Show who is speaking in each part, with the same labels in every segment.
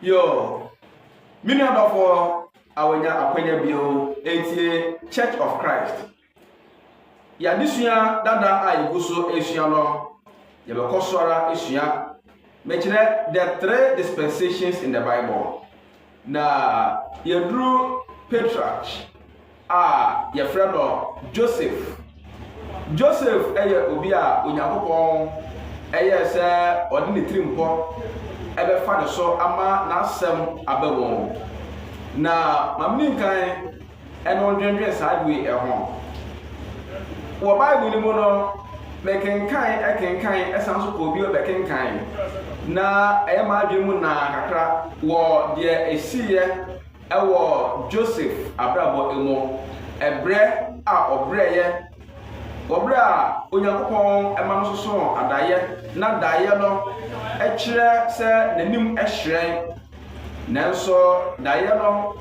Speaker 1: Yoo, me nua dɔfoɔ a wanya akwanya bio ɛtie Church of Christ. Yɛadesua dada a yɛgu so ɛsua no, yɛbɛkɔ so ara ɛsua. Mɛkyerɛ the three dispensations in the Bible. Na yɛduru patriarch a yɛfrɛ no Joseph. Joseph yɛ obi a Onyankopɔn yɛɛ sɛ ɔde ne tirimpɔ bɛfa ne so ama n'asɛm aba mu. Na ma menni nkan Ɛnde wodwendwen saa ade yi ho? Wɔ Bible no mu no, mekenkan, kenkan, san nso kɔɔ bio bɛkenkan, na ɛyɛ m'adwene mu naa kakra wɔ deɛ ɛsiiɛ wɔ Joseph abrabɔ mu, ɛberɛ a ɔbrɛeɛ, wɔ berɛ a Onyankopɔn ma no sosoo adaeɛ, na daeɛ no kyerɛ sɛ n'anim hyerɛn. Nanso daeɛ no,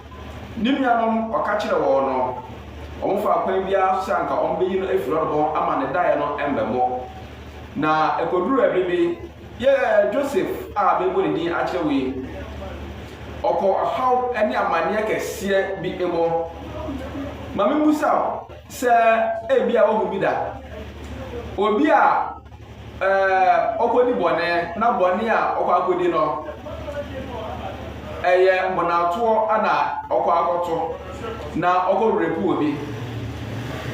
Speaker 1: ne nuanom ɔka kyerɛɛ wɔn no, wɔfaa kwan biara so sɛ anka wɔbɛyi no afiri hɔ de wɔn ama ne daeɛ no mmɛmmɔ. Na ɛkɔduruu ɛberɛ bi, yɛ Joseph a merebɔ ne din akyerɛ wo yi, ɔkɔɔ ɔhaw ne amanneɛ kɛseɛ bi mu. Ma memmisa wo sɛ ebia woahu bi da, obi a eh, ɔkɔdi bɔne na bɔne a ɔkɔ akɔdi no ɛyɛ mmonnatoɔ na ɔkɔ akɔto na ɔkɔ repu wɔ bi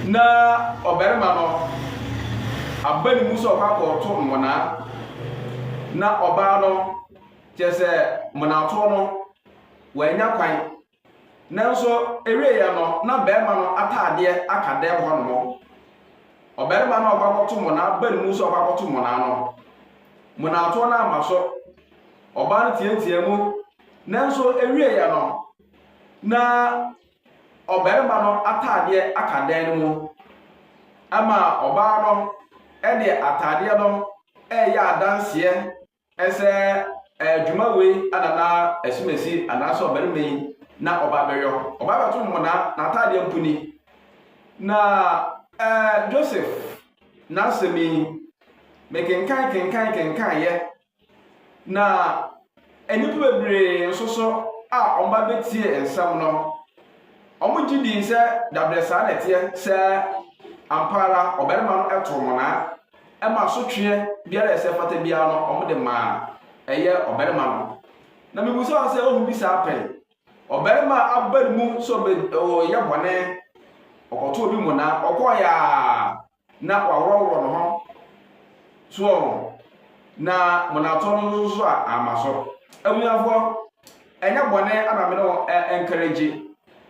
Speaker 1: na ɔbarima no aba ne mu sɛ ɔkɔ akɔto mmonnaa na ɔbaa no kyerɛ sɛ mmonnatoɔ no wanya kwan Nanso ɛwieɛ no na barima no ataadeɛ aka dɛm hɔ nom. Ɔbarima no a ɔkɔ akɔto monaa ba no mu sɛ ɔkɔ akɔto monaa no. Monaatoɔ no amma so. Ɔbaa no teateaa mu. Nanso ɛwieɛ no na ɔbarima no ataadeɛ aka dan no mu. Ɛma ɔbaa no de ataadeɛ no ɛyɛ adanseɛ Sɛ ɛyɛ dwuma wei na na Asumasi anaasɛ ɔbarima yi na ɔba abɛyɔ. Ɔba abɛto mmonnaa, n'ataadeɛ mpo ni. Na. Eh, Joseph, n'asɛm yi, mekenkan kenkan kenkaneeɛ, na nnipa bebree nso so a wɔba bɛtiee nsɛm no, wɔgye dii sɛ dabrɛ saa na ɛteɛ, sɛ ampa ara ɔbarima no too mmonnaa. Ɛma asotweɛ biara a ɛsɛ fata biara no, wɔde ma ɛyɛ ɔbarima no. Na mebisa wo sɛ, wohu bi saa pɛn? Ɔbarima a aba ne mu sɛ ɔbɛyɛ bɔne, ɔkɔto obi mmonnaa, ɔkɔɔeɛ a na waworɔworɔ ne ho soɔ ho, na mmonnaatoɔ no nso so a amma so. Abusuafoɔ, ɛnyɛ bɔne na me ne wo encourage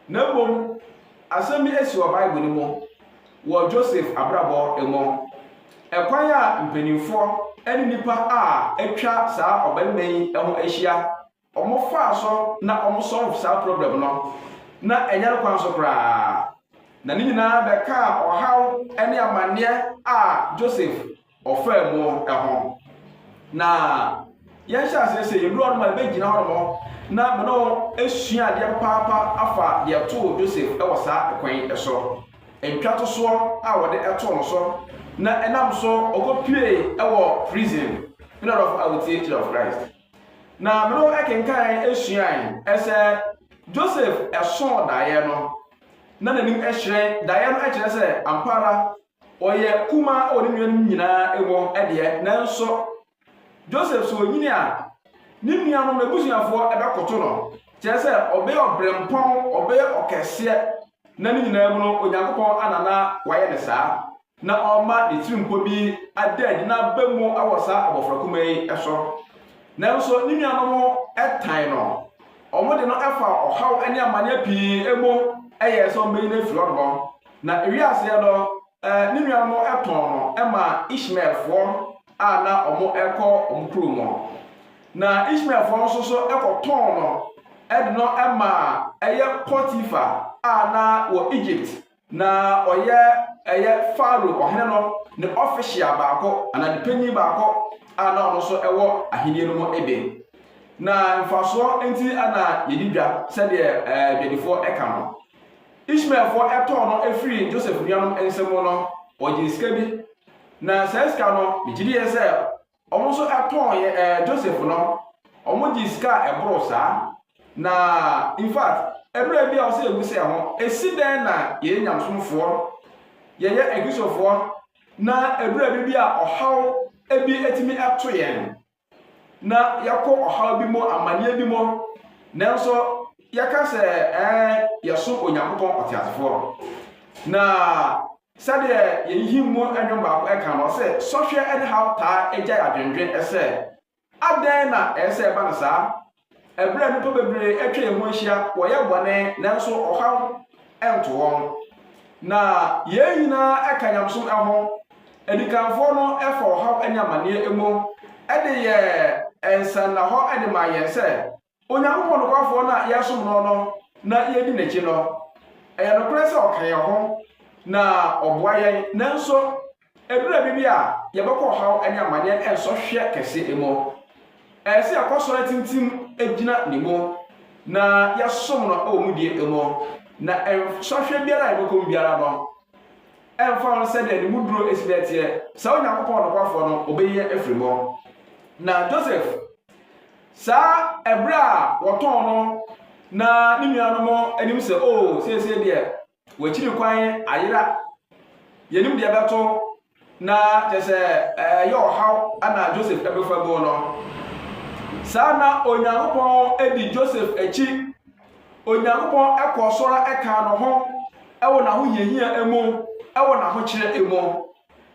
Speaker 1: Na mbom asɛm bi esi wɔ Bible no mu wɔ Joseph abrabɔ mu. Kwan a mpanyimfo ne nyimpa a etwa saa ɔbarimba yi ho ehyia, wɔfaa so na wɔn solve saa problem no, na nnyɛ no kwan so koraa. Na ne nyinaa bɛkaa ɔhaw ne amanneɛ a Joseph ɔfaa mu ho na yɛnhyɛ aseɛ sɛ yɛduru hɔ no ma yɛbɛgyina hɔ no na mene wo asua adeɛ papaapa afa deɛ ɛtoo joseph wɔ saa ɛkwan yi so ntwa to soɔ a wɔde ɛtoo no so na ɛnam so ɔkɔpue wɔ prison mene dɔfo a wotie church of christ na mene wo ɛkenkan asuae ɛsɛ joseph ɛsoo daeɛ no na n'anim ɛhyerɛn daeɛ no ɛkyerɛ sɛ ampara Ɔyɛ kumaa wɔ ne nuanom nyinaa mu deɛ, nanso Joseph sɛ ɔnyini a, ne nuanom no abusuafoɔ bɛkoto no. Kyerɛ sɛ ɔbɛyɛ ɔbrɛmpɔn, ɔbɛyɛ ɔkɛseɛ, na ne nyinaa mu no Onyankopɔn ana na wayɛ no saa, na ɔma ne tirimpɔ bi ada adi na aba mu wɔ saa abɔfra kumaa yi so. Nanso ne nuanom tan no, wɔde no fa ɔhaw ne amanneɛ pii mu yɛɛ sɛ wɔbɛyi no afiri hɔ. Na ɛwii aseɛ no, ne nua no tɔn no maa Ishmaelfoɔ a na wɔrekɔ wɔn kuro mu. Na Ishmaelfoɔ no nso so kɔtɔn no de no maa ɛyɛ Potifa a na wɔ Egypt, na ɔyɛ ɛyɛ Farao ɔhene no ne ɔfehyia baako anaa ne panyin baako a na ɔno nso wɔ ahenni no mu de. Na mfasoɔ nti na yɛdi dwa sɛdeɛ adwadifoɔ ka no. Ishmaelfoɔ tɔɔ no firii Joseph nuanom nsa mu no, wɔgyee sika bi, na saa sika no, megye diiɛ sɛ wɔn nso tɔn yɛ ɛɛ eh, Joseph no, wɔgyee sika a ɛboro saa. Na in fact, ɛberɛ bi a wɔsɛ yɛbu sɛ ho, ɛsi dɛn na yɛyɛ nyamsomfoɔ, yɛyɛ akristofoɔ, na ɛberɛ bi bi a ɔhaw bi atumi ato yɛn? na yɛakɔ ɔhaw bi mu, amanneɛ bi mu, nanso yɛka sɛ ɛɛ yɛsom Onyankopɔn ɔteasefoɔ. Na sɛdeɛ yɛn him mu nnwom baako ɛka no sɛ sɔhwɛ ne haw taa agyae adwendwen sɛ adɛn na ɛyɛ sɛ ɛba no saa Ɛberɛ a nnipa bebree atwa yɛn ho ahyia, wɔyɛ bɔne, nanso ɔhaw nto wɔn. Na yɛn nyinaa ka nyamesom ho. Adikanfoɔ no fa ɔhaw ne amanneɛ mu de yɛ nsannahɔ de ma yɛn sɛ Onyankopɔn nokwafoɔ no a yɛsom no no na yɛdi n'akyi no. Ɛyɛ nokorɛ sɛ ɔka yɛn ho na ɔboa yɛn, nanso Ɛduru baabi a, yɛbɛkɔ ɔhaw ne amanneɛ nsɔhwɛ kɛse mu. Ɛsɛ sɛ yɛkɔ asɔre atintim gyina ne mu, na yɛsom no wɔ mu die mu. Na nsɔhwɛ biara a yɛbɛkɔ mu biara no, ɛmfa ho sɛdeɛ ne mu duro si dɛ teɛ, saa Onyankopɔn nokwafoɔ no, ɔbɛyi yɛn afiri mu. Na Joseph, saa ɛberɛ a wɔtɔn no, na ne nuanom nim sɛ, oo, seesei deɛ, Wɔakyiri kwan ayera. Yɛnim deɛ ɛbɛto na kyɛ sɛ ɛyɛ ɔhaw na Joseph ɛbɛfa mu no. Saa na Onyankopɔn di Joseph akyi. Onyankopɔn ɛkɔɔ so ara ɛkaa no ho ɛwɔ n'ahohiahia mu, ɛwɔ n'ahokyerɛ mu.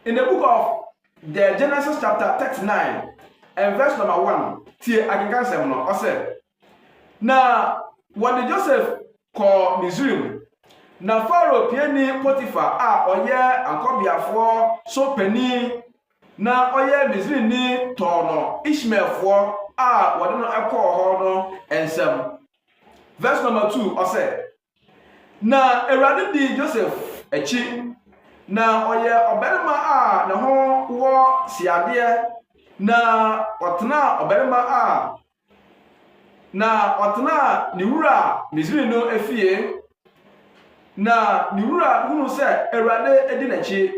Speaker 1: In the book of the Genesis chapter 39 and verse number 1, tie akenkansɛm no, ɔsɛ. Na wɔde Joseph kɔɔ Misraim, na Farao piani Potifar a ɔyɛ akɔbeafoɔ so panin na ɔyɛ Misrini tɔɔ no Ishmaelfoɔ a wɔde no kɔɔ hɔ no nsam. Verse number two, ɔsɛ, Na Awurade dii Joseph akyi, na ɔyɛ ɔbarima a ne ho wɔ siadeɛ, na ɔtenaa ɔbarima a Na ɔtenaa ne wura Misri no fie. Na ne wura hunu sɛ Awurade di n'akyi,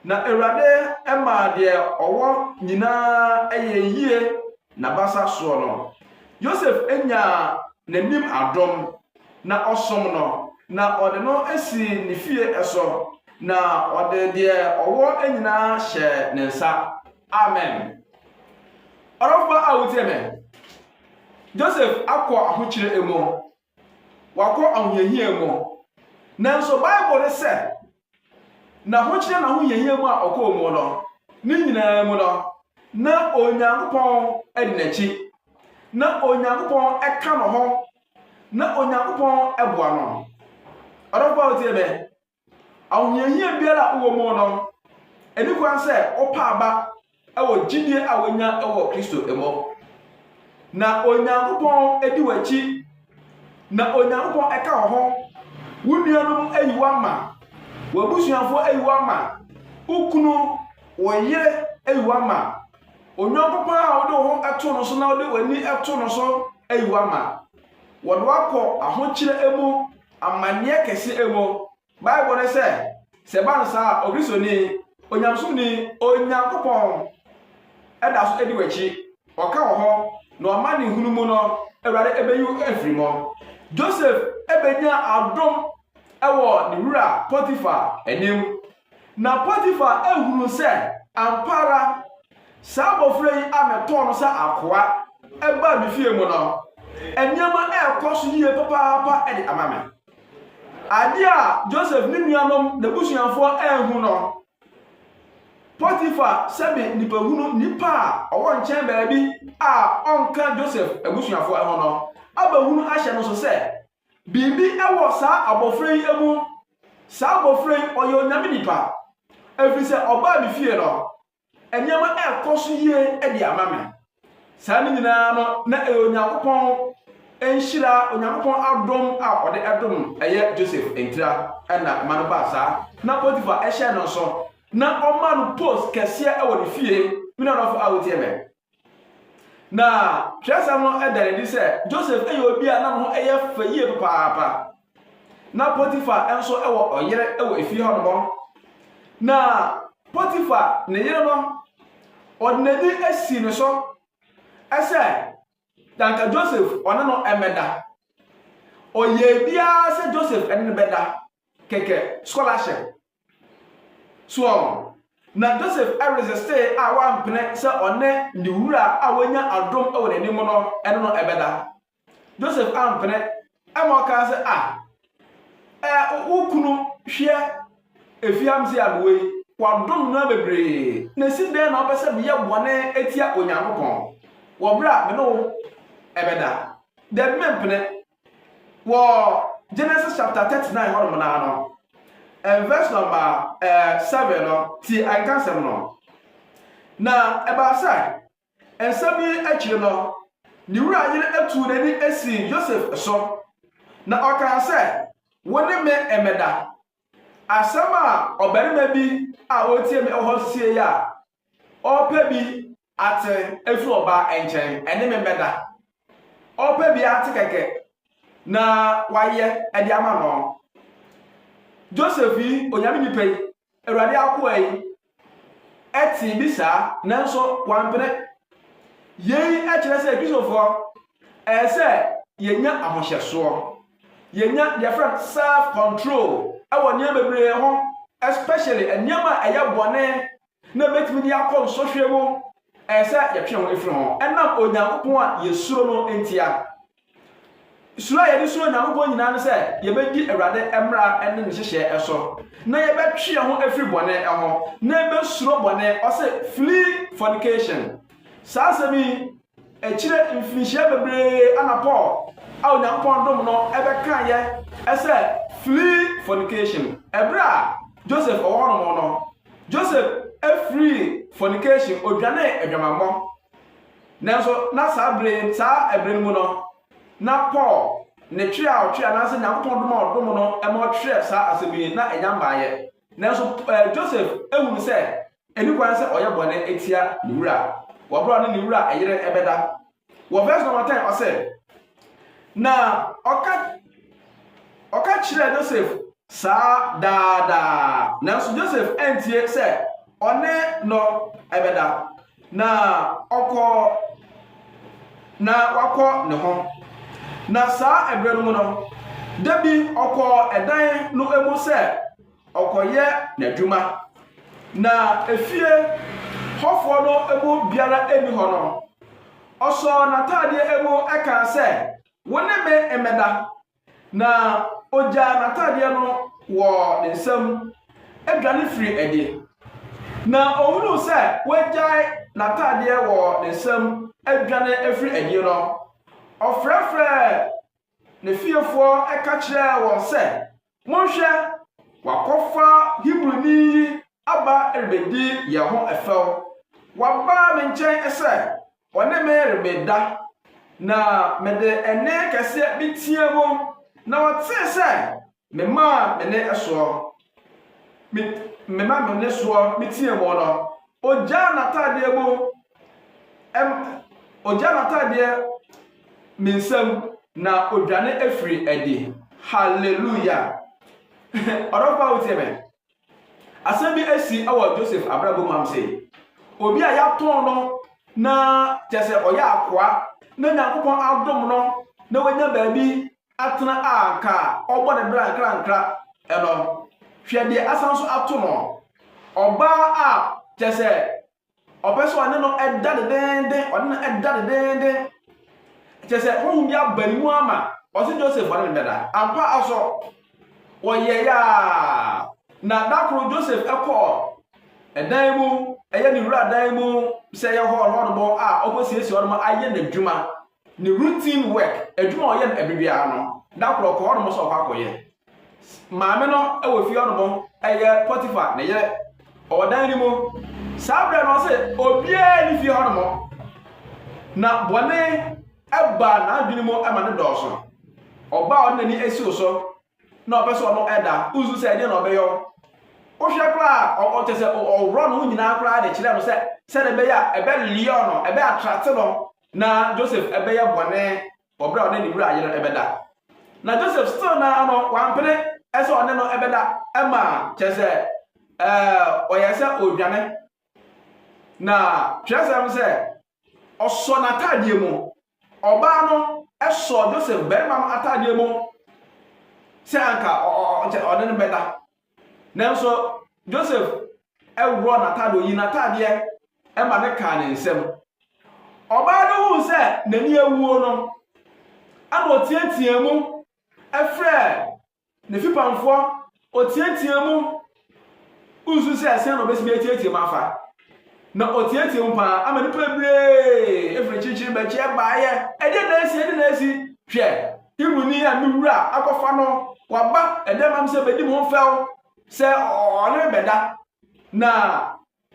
Speaker 1: na Awurade maa deɛ ɔwɔ nyinaa yɛ yie n'abasa soɔ no. Yosef nyaa n'anim adom, na ɔsom no, na ɔde no sii ne fie so, na ɔde deɛ ɔwɔ nyinaa hyɛɛ ne nsa. Amen. Ɔdɔfo pa a wotie me. Joseph akɔ ahokyere mu. Wakɔ ahohiahia mu. Nanso Bible no sɛ n'ahokyere na ahohiahia mu a ɔkɔɔ mu no, ne nyinaa mu no, na Onyankopɔn di n'akyi. Na Onyankopɔn ka no ho. Na Onyankopɔn boa no. Ɔdɔfo a wotie me. Ahohiahia biara a wowɔ mu no, ɛni kwan sɛ wopa aba wɔ gyidie a wonya wɔ Kristo mu. Na Onyankopɔn di w'akyi, na Onyankopɔn ka wo ho. Wo nuanom ayi wo ama, w'abusuafoɔ ayi wo ama, wo kunu, wo yere ayi wo ama. Onyankopɔn a wode wo ho to no so na wode w'ani to no so ayi wo ama. Wɔde wakɔ ahokyerɛ mu amanneɛ kɛse mu. Bible no sɛ, sɛ ɛba no saa a, Ogristoni, onyamesomni, Onyankopɔn da so di w'akyi, ɔka wɔ hɔ, na ɔma ne hunu mu no, Awurade bɛyi wo afiri mu. Joseph bɛnya adom wɔ ne wura Potiphar anim, Na Potifar hunuu sɛ ampa ara saa abɔfra yi a metɔɔ no sɛ akoa baa me fie mu no, nneɛma rekɔ so yie papaapa de ama me. Adeɛ a Joseph ne nuanom n'abusuafoɔ anhu no, Potifar sɛbe nipahunu nipa a ɔwɔ nkyɛn baabi a ɔnka Joseph abusuafoɔ ho no abɛhunu ahyɛ no so sɛ Biribi wɔ saa abɔfra yi mu. Saa abɔfra yi, ɔyɛ Onyame nipa. Ɛfiri sɛ ɔbaa me fie no, nneɛma ɛrekɔ so yie de ama me. Saa ne nyinaa no, na ɛyɛ Onyankopɔn nhyira, Onyankopɔn adom a ɔde ɛdom ɛyɛ Joseph ntira ɛna ɛma no baa saa. Na Potiphar ɛhyɛ no nso, na ɔma no post kɛseɛ ɛwɔ ne fie. Me nuadɔfo a wotie me, Na twerɛsɛm no da no adi sɛ Joseph yɛ obi a na ne ho yɛ fɛ yie papaapa. Na Potiphar nso wɔ ɔyere wɔ efie hɔ nom. Na Potiphar ne yere no, ɔde n'ani asi ne so sɛ danka Joseph ɔne no mmɛda. Ɔyɛ biara sɛ Joseph ne no bɛda kɛkɛ scholarship. Soɔ no, na Joseph resistee a wampene sɛ ɔne ne wura a wanya adom wɔ n'anim no ne no bɛda. Joseph ampene, ɛma ɔkaa sɛ, ah, eh, wo kunu hwɛ efiamse a mewɔ yi, wadom no bebree, na ɛsi dɛn na ɔpɛ sɛ meyɛ bɔne atia Onyankopɔn wɔ berɛ a me ne wo bɛda? Dabi mempene, Wɔ Genesis chapter thirty nine hɔnom naa no, ɛn verse number ɛɛ seven no, tie ɛnka nsɛm no. Na ɛbaa sɛ nsɛm yi akyiri no, ne wura yere atuu n'ani asi Yosef so, na ɔkaa sɛ, Wo ne me mmɛda. Asɛm a ɔbarima bi a ɔretie me wɔ hɔ sie a ɔrepɛ bi Atse efi ɔbaa nkyɛn, ɛne me mbɛda. Ɔpɛ bi atse kɛkɛ na ɔayɛ de ama no. Joseph yi, Onyame nyimpa yi, Ewuradze akowaa yi, tsee bi saa, nanso ɔammpene. Yei kyerɛ sɛ Kristofoɔ ɛɛ sɛ yɛnya ahohyɛsoɔ, yɛnya deɛ frɛ no self control ɛwɔ nneɛma bebree ho, especially nneɛma a ɛyɛ bɔne na ebetumi de akɔ nsɔhwɛ mu. Ɛyɛ sɛ yɛtwe ho firi ho ɛnam Onyankopɔn a yɛsuro no ntia. Suro a yɛde suro Onyankopɔn nyinaa ne sɛ yɛbɛdi Awurade mmara ne ne nhyehyɛɛ so, na yɛbɛtwe yɛn ho afiri bɔne ho, na yɛbɛsuro bɔne. Ɔse, flee fornication. Saa asɛm yi, Akyire mfirinhyia bebree ana Paul a Onyankopɔn dom no bɛkaeɛ sɛ flee fornication. Ɛberɛ a Joseph ɔwɔ hɔ nom no, Joseph firii fornication, ɔdwanee adwamammɔ. Nanso na saa berɛ yi, saa ɛberɛ no mu no, na Paul ne twerɛ a ɔtwerɛ anaasɛ Onyankopɔn dom a ɔdom no ma ɔtwerɛ saa asɛm yi na ɛnya mmaeɛ. Nanso Joseph hunu sɛ Ɛni kwan sɛ ɔyɛ bɔne tia ne wura a, wɔbrɛ ɔne ne wura yere bɛda. Wɔ verse number ten ɔsɛ, na ɔka ɔka kyerɛɛ Joseph saa daadaa, nanso Joseph antie sɛ ɔne no bɛda, na ɔkɔ na wakɔ ne ho. Na saa ɛberɛ no mu no, da bi ɔkɔɔ ɛdan no mu sɛ Ɔkɔyɛ n'adwuma. Na efie hɔfoɔ no mu biara nni hɔ no, ɔsɔɔ n'ataadeɛ mu kaa sɛ, Wo ne me mmɛda. Na ɔgyaa n'ataadeɛ no wɔ ne nsam dwane firii adi. Na ɔhunuu sɛ wagyae n'ataadeɛ wɔ ne nsam adwane afiri adi no, ɔfrɛfrɛɛ ne fiefoɔ ka kyerɛɛ wɔn sɛ, Monhwɛ, wɔakɔfa Hebrini yi aba rebedi yɛn ho fɛw. Waba me nkyɛn sɛ ɔne me rebeda, na mede ɛnne kɛseɛ meteaa mu, na ɔtee sɛ memaa me nne soɔ. Me, mema me nne soɔ meteaa mu no, ɔgyaa n'ataadeɛ mu ɛm, ogya n'atadeɛ ne nsam na odwane afiri adi. Hallelujah. Ɔdɔfo a wotie me. Asɛm bi asi wɔ Joseph abrabɔ mu am sɛ obi a yɛatɔn no na kyɛ sɛ ɔyɛ akoa na Nyankopɔn adom no na wanya baabi atena a nka ɔbɔ ne bra nkrankra ɛno. Hwɛ deɛ asan so ato no. Ɔbaa a kyɛ sɛ Ɔpɛ sɛ ɔne no da dedeenden, ɔne no da dedeenden. Kyerɛ sɛ honhom bi aba ne mu ama ɔse Joseph ɔne no bɛda. Ampa ara so, wɔyɛeɛ ara. Na da koro Joseph kɔɔ ɛdan mu, ɛyɛ ne wura dan mu sɛ ɛyɛ hɔɔlhɔɔlobɔ a ɔkɔsiesie hɔ nom ayɛ n'adwuma. Ne routine work, adwuma a ɔyɛ no ɛbɛ biara no, da korɔ ɔkɔ hɔnom sɛ ɔkɔ akɔyɛ. Maame no wɔ fie hɔnom, ɛyɛ Potiphar ne yere, ɔwɔ dan no mu. Saa berɛ no ɔse obiara ne fie hɔnom, na bɔne ɛbaa n'adwene mu ɛma ne dɔɔso. Ɔbaa ɔde n'ani asiw so na ɔpɛ sɛ ɔno ɛda, wosu sɛ ɛdeɛ na ɔbɛyɔ. Wohwɛ koraa ɔkyɛ sɛ ɔworɔ no nyinaa koraa de kyerɛ no sɛ sɛdeɛ ɛbɛyɛ a ɛbɛ lure no, ɛbɛ attract no na Joseph bɛyɛ bɔne wɔ berɛ a ɔne ne wura yere bɛda. Na Joseph still naa no wampene sɛ ɔne no bɛda ma kyerɛ sɛ ɔyɛ sɛ ɔredwane. Na twerɛsɛm sɛ ɔsɔ n'ataadeɛ mu. Ɔbaa no sɔ Joseph barima no ataadeɛ mu sɛ anka ɔne no bɛda. Nanso Joseph worɔɔ n'ataade, ɔyii n'ataadeɛ ma no kaa ne nsam. Ɔbaa no huu sɛ n'ani awuo no, ɛna ɔteatea mu frɛɛ ne fipamfoɔ, ɔteatea mu nsu sɛ sɛn na ɔbɛsi bɛteatea mu afa. Na ɔteɛteɛɛ mu paa ama nnipa bebree firi kyerekyere bɛkyeɛ baeɛ. Ɛdeɛ na asi, ɛdeɛ na asi? Hwɛ, Hebrini a me wura akɔfa no, waba ɛdɛm am sɛ bɛdi me ho fɛw sɛ ɔne me bɛda. Na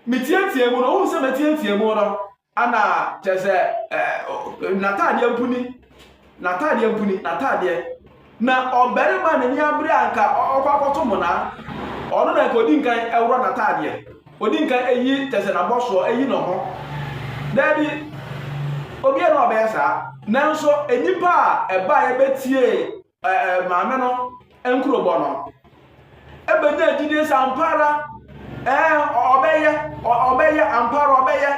Speaker 1: meteɛteɛɛ mu no, wohu sɛ meteɛteɛɛ mu no, ana kyerɛ sɛ n'ataadeɛ mpo ni. N'ataadeɛ mpo ni, n'ataadeɛ. Na ɔbarima a n'ani abere a nka ɔkɔ akɔto mmonaa, ɔno na nka ɔdi nkan ɛworɔ n'ataadeɛ. Ɔdi nkan ɛyi kyɛsɛ n'abɔsoɔ, ɛyi ne ho. Daabi, obiara na ɔbɛyɛ saa. Nanso nnipa a ɛbaeɛ bɛtiee ɛɛ maame no. nkurobɔ no ɛbɛnya agyidie sɛ ampa ara ɛɛ ɔbɛyɛ ɔbɛyɛ ampa ara ɔbɛyɛ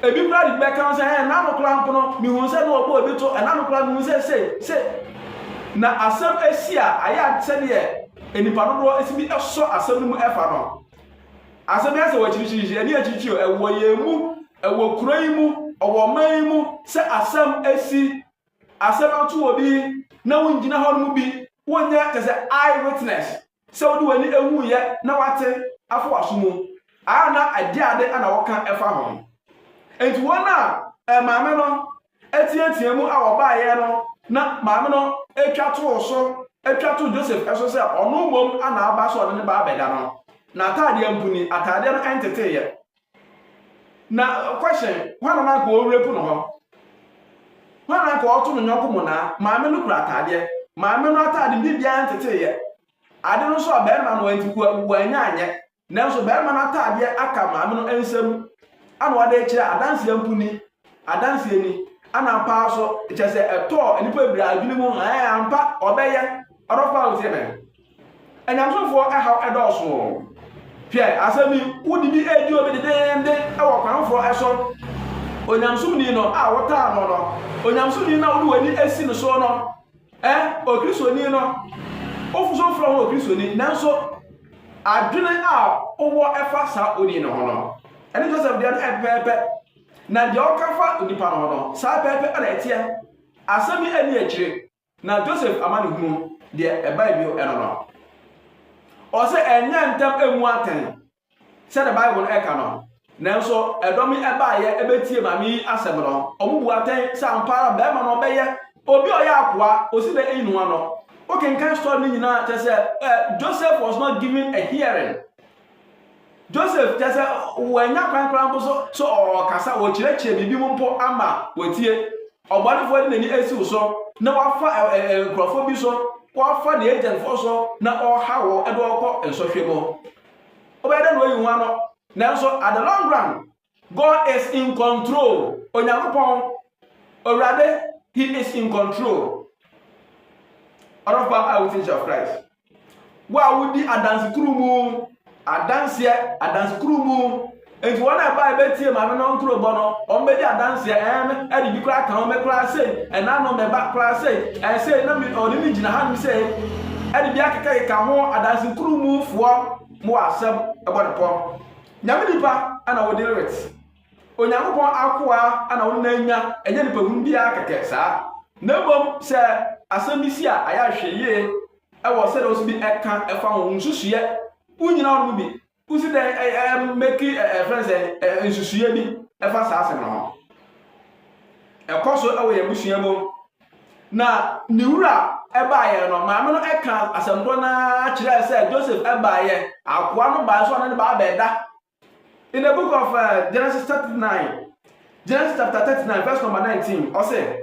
Speaker 1: ebi kura de bɛka sɛ ɛɛ nanu kura mpono mihu sɛ na ɔbɔ ebi to ɛnanu kura mihu sɛ se se na asɛm esi a ayɛ sɛdeɛ nipa dodoɔ esi bi ɛsɔ asɛm no mu ɛfa no asɛm yɛ sɛ wɔ akyirikyiri ɛni akyirikyiri ɛwɔ yɛn mu ɛwɔ kura yi mu ɔwɔ ɔman yi mu sɛ asɛm esi. Asɛm ato obi na wongyina hɔ no mu bi, wonyɛ kyɛ sɛ eye witness, sɛ wode w'ani huuyɛ na woate afa w'aso mu a na ɛde ade na wɔka fa ho. Enti wɔn a maame no teatea mu a wɔbaeɛ no na maame no twa too so, twa too Joseph so sɛ ɔno mmom na aba sɛ ɔde ne ba abɛda no, n'ataadeɛ mpo ni, ataadeɛ no nteteeɛ. Na question, hwan na na anka ɔrerape no hɔ? Hwan na anka ɔreto ne yɔnko monaa? Maame no kura ataadeɛ. Maame no ataade mu biribiara nteteeɛ. Ade no nso a barima no nti wannya anyɛ. Nanso barima no ataadeɛ aka maame no nsam ana ɔde rekyerɛ adanseɛ mpo ni. Adanseɛ ni. Ana ampa ara nso kyerɛ sɛ ɛtɔɔ nnipa bebree adwene mu, ɛɛ ampa ɔbɛyɛ. Ɔdɔfo a wotie me. Anyamesomfoɔ ɛhaw ɛdɔɔso. Hwɛ, asɛm yi, wode bi redi obi dedeende wɔ kwan foforɔ so. Onyamesomni no a wotaa no no, onyamesomni no a wode w'ani asi no so no, ɛ, okristoni no, wofo so mfrɛ ho okristoni, nanso adwene a wowɔ ɛfa saa oni no ho no, ɛne Joseph deɛ no ɛpɛpɛɛpɛ. Na deɛ ɔka fa nipa no ho no, saa pɛpɛɛpɛ na ɛteɛ. Asɛm yi ɛni akyire. Na Joseph amanehunu deɛ ɛbae bio ɛno no, ɔse ɛnyɛ ntɛm ɛmmu atɛn sɛdeɛ Bible no ɛka no, nanso ɛdɔm yi ɛbaeɛ ɛbɛtie maame yi asɛm no, wɔn bu atɛn sɛ ampa ara barima no ɔbɛyɛ obi a ɔyɛ akoa, ɔsi dɛn ayi ne ho ano. Wokenkan story no nyinaa a, kyerɛ sɛ Joseph was not given a hearing. Joseph, kyerɛ sɛ wɔanya kwan koraa mpo so sɛ ɔrekasa, ɔrekyerɛkyerɛ biribi mu mpo ama wɔatie. Ɔbɔnefoɔ de n'ani asi wo so na wafa nkurɔfoɔ bi so, wafa ne agentfoɔ so na ɔreha wɔn de wɔn kɔ nsɔhwɛ mu. Wobɛyɛ dɛ na wayi ho ano, nanso at the long run, God is in control. Onyankopɔn, Awurade, he is in control. Ɔdɔfo a wotie Jesus Christ. Wo a wodi adanse kuru mu, adanseɛ, adanse kuru mu. Nti wɔn a ɛbaa ɛbɛtie maame no ntoro bɔ no, wɔn bɛdi adanseɛ ɛn ɛde bi koraa kan wɔn koraa sei, ɛna no mɛba koraa sei, ɛn sei na mi ɔne mi gyina ha nom sei, ɛde bi akekakeka ho adanse kuru mu foɔ mo wɔ asɛm ɛbɔ ne pɔn. Nyame nipa na wo deal with. Onyankopɔn akoa na wo ne no anya, ɛnyɛ nipahunu bi ara kɛkɛ saa. Na mmom sɛ asɛm bi si a, ayɛ a hwɛ yie wɔ sɛdeɛ wo nso bi ka fa ho, wo nsusuiɛ, wo nyina wo no mu bi, wo si dɛn mɛki ɛfrɛ no sɛ nsusuiɛ bi fa saa asɛm no ho. Ɛkɔ so wɔ yɛn abusua mu. Na ne wura baeɛ no, maame no ka asɛm korɔ no ara kyerɛɛ sɛ Joseph baeɛ, akoa no baeɛ so ɔne no baa bɛda. In the book of uh, Genesis chapter 9, Genesis chapter 39 verse number 19, ɔse,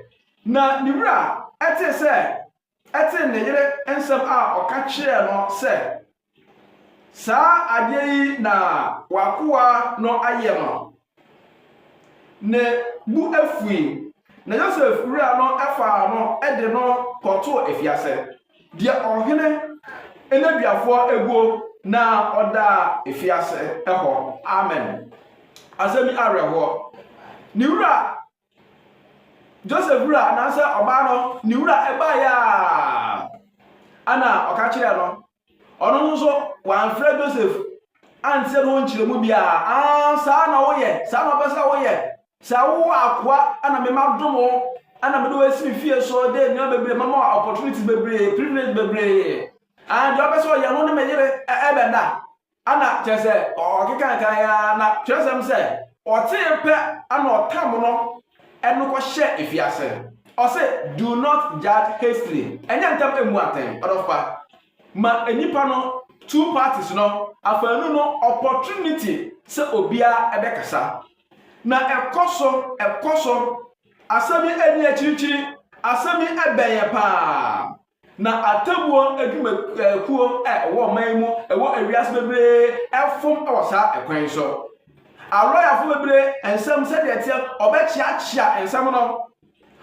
Speaker 1: na ne wura ɛtee sɛ ɛtee ne yere nsɛm a ɔka kyerɛɛ no sɛ, Saa adeɛ yi na w'akoa no ayɛ no. Ne bo afui, na Yosef wura no faa no de no kɔtoo afiase, deɛ ɔhene nneduafoɔ guo na ɔda afiase hɔ. Amen. Asɛm bi awerɛhoɔ. Ne wura Joseph wura anaasɛ ɔbaa no ne wura ɛbaeɛ a ana ɔka kyerɛɛ no ɔno nso so wɔamfrɛ Joseph ansɛ no ɔnkyerɛ mu biara aa saa na woyɛ saa na ɔpɛ sɛ woyɛ sɛ wowɔ akoa ana mema dom wo ana mede wɔasi me fie so dɛ nneɛma bebree mama opportunities bebree privilege bebree aa deɛ ɔpɛ sɛ ɔyɛ no ne me yere ɛbɛda Ana kyerɛ sɛ ɔkekae kan ara na twerɛsɛm sɛ ɔtee pɛ ana ɔtam no ɛno kɔhyɛɛ efiase. Ɔse do not judge hastily, ɛnyɛ ntɛm mmu atɛn. Ɔdɔfopa ma nnipa no two parties no afaanu no opportunity sɛ obiara ɛbɛkasa. Na ɛkɔso ɛkɔso asɛm yi ɛni akyirikyiri asɛm yi ɛbɛn yɛ paa. Na atemmuo adwumakuo a ɛwɔ ɔman yi mu wɔ ewiase bebree fom wɔ saa ɛkwan so. Alɔyafo bebree nsɛm sɛdeɛ ɛteɛ, ɔbɛkyeakyea nsɛm no.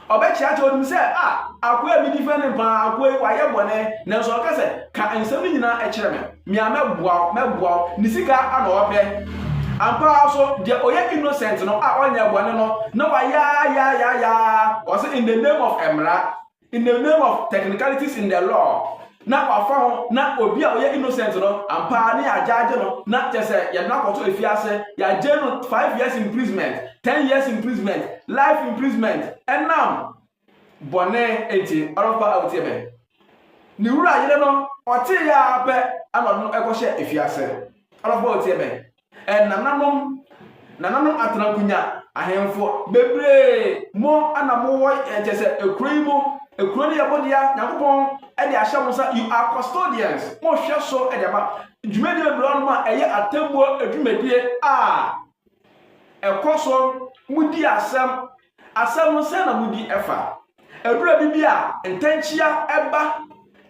Speaker 1: Ɔbɛkyeakyea onim sɛ a ah, akoa a medi fɛn ne paa, akoa yi wayɛ bɔne, nanso ɔka sɛ ka nsɛm no nyinaa kyerɛ me, me a mɛboa wo, mɛboa wo. Ne sika ana ɔpɛ. Ampa ara so deɛ ɔyɛ innocent no a ɔnyɛ bɔne no na wayɛ ayaayaaya ɔse in the name of mmara. In the name of technicalities in the law na wafa ho na obi a ɔyɛ innocent no ampa ara ne yɛagyaagye no na kyɛ sɛ yɛde no akɔto afiase yɛagye no five years imprisonment ten years imprisonment life imprisonment ɛnam bɔne nti ɔrɔfa a wotie me ne wura yere no ɔtee yɛ ara pɛ ana ɔde no ɛkɔhyɛ afiase ɔrɔfa a wotie me Ɛnananom, nananom atrankunya ahemfo bebree mo na mo wɔ yɛ kyɛ sɛ ekuro yi mo, ekuro no yɛ mo dea, Nyankopɔn ɛde ahyɛ mo nsa, you are custodians, mo hwɛ so ɛde ama, dwumadie bebree wɔnom a ɛyɛ atemmuo dwumadie a ɛkɔ so, mo di asɛm, Asɛm no sɛn na mudi fa? Adura bi bi a ntɛnkyea ba